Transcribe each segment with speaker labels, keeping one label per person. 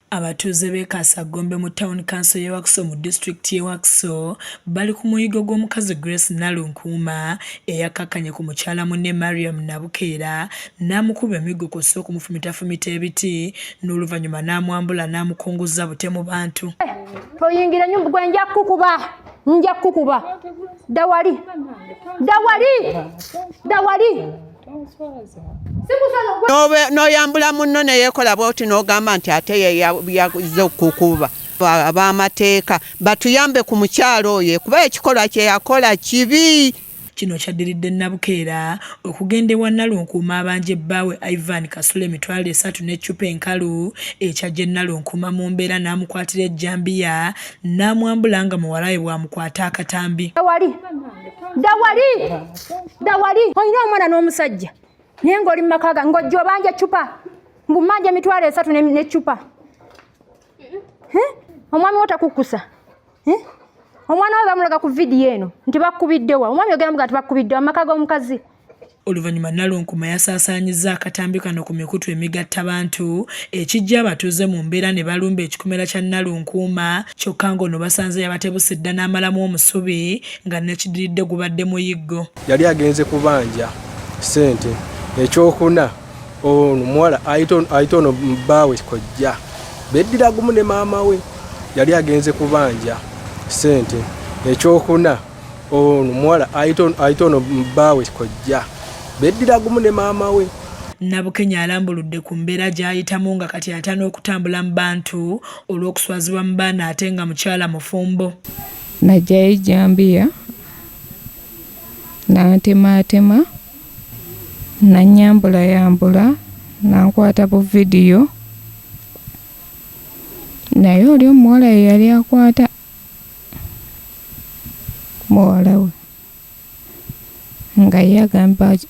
Speaker 1: Abatuuze b'e Kaasagombe mu tawuni kanso y'e Wakiso mu disitulikiti y'e Wakiso bali ku muyiggo gw'omukazi Grace Nalunkuuma eyakkakkanye ku mukyala munne Mariam Nabukeera n'amukuba emiggo kw'ossa okumufumitafumita ebiti n'oluvannyuma n'amwambula n'amukunguzza bute mu bantu. Toyingira
Speaker 2: nnyumba gwe nja kukuba nja kukuba dawali dawali dawali
Speaker 3: n'oyambula munno ne yeekola bwoti n'ogamba nti ate yeyaze okukuba ab'amateeka batuyambe ku mukyalo oyo kuba ekikolwa kye yakola kibi kino kyaddiridde
Speaker 1: nabukeera okugenda ewa nalunkuuma abanja ebbaawe ivan kasula emitwalo esatu n'eccupa enkalu ekyajja nalunkuuma mu mbeera n'amukwatira ejjambiya n'amwambula nga muwalawe bw'amukwata akatambi dawali
Speaker 2: dawali olina omwana n'omusajja naye ng'oli mu maka gange ng'ojja obanja eccupa mbu mmanja emitwalo esatu n'eccupa omwami wo takukkusa omwana we bamulaga ku vidiyo eno nti bakkubiddewa omwami ogera muga nti bakkubiddewa mu maka g'omukazi Oluvannyuma
Speaker 1: Nalunkuma yasaasaanyizza akatambi kano ku mikutu emigattabantu ekiggya abatuuze mu mbeera ne balumba ekikomera kya Nalunkuuma kyokka ng'ono basanze yabatebuse dda n'amalamu omusubi nga nekidiridde gubadde muyiggo. Yali agenze
Speaker 4: kubanja ssente ekyokuna ono muwala ayita ono bbaawe kojja beddira gumu ne maama we yali agenze kubanja ssente ekyokuna ono muwala ayita ono baawe kojja beddira gumu ne maama we nabukenya
Speaker 1: alambuludde ku mbeera gy'ayitamu nga kati ata n'okutambula mu bantu olw'okuswazibwa mu baana ate nga mukyala mufumbo najjayo
Speaker 5: ejjambiya nantemaatema nanyambulayambula nankwata bu vidiyo naye oli omuwala ye yali akwata muwala we nga ye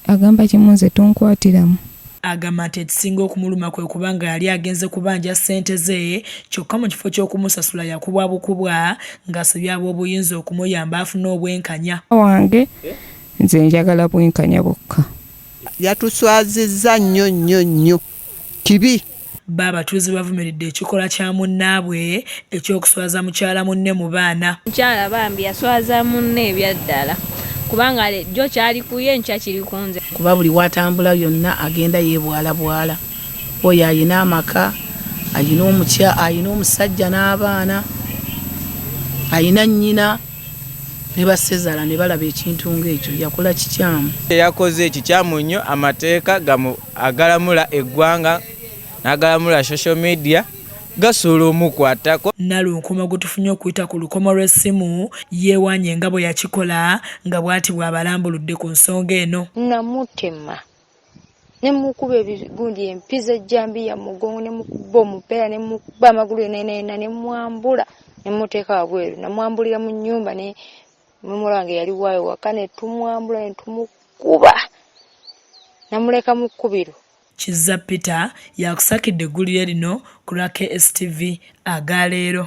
Speaker 5: agamba kimu nze tonkwatiramu agamba nti
Speaker 1: ekisinga okumuluma kwe kuba nga yali agenze kubanja ssente ze kyokka mu kifo ky'okumusasula yakubwa bukubwa ng'asabye ab'obuyinza okumuyamba afune obwenkanya wange
Speaker 5: nze njagala bwenkanya bwokka yatuswazizza
Speaker 3: nnyo nnyo nnyo kibi Bbo abatuuze
Speaker 1: bavumiridde ekikolwa kya munnaabwe eky'okuswaza mukyala munne mu baana. Mukyala bambi
Speaker 6: yaswaza munne ebyaddala kubanga jjo kyali ku ye enkya kiri ku nze. Kuba buli w'atambula
Speaker 7: yonna agenda yeebwalabwala. Oyo alina amaka, alina omusajja n'abaana, alina nnyina ne bassezaala ne balaba ekintu ng'ekyo. Yakola kikyamu. Kye yakoze kikyamu
Speaker 8: nnyo, amateeka agalamula eggwanga n'agalamula social media gasobola omukwatako. Nalunkoma gwe
Speaker 1: tufunye okuyita ku lukomo lw'essimu yeewaanye nga bwe yakikola nga bwati bw'abalambuludde ku nsonga eno. Namutema
Speaker 9: ne mukuba ebigundi empiza ejjambiya mu mugongo ne mukuba omupeera ne mukuba amagulu yonna yonna yonna ne mwambula ne muteeka wabweru namwambulira mu nnyumba ne N'omuwala wange yali waayo waka ne tumwambula ne tumukuba namuleka mu kkubiro. Kizza
Speaker 1: Peter y'akusakidde eggulire lino ku lwa KSTV aga leero.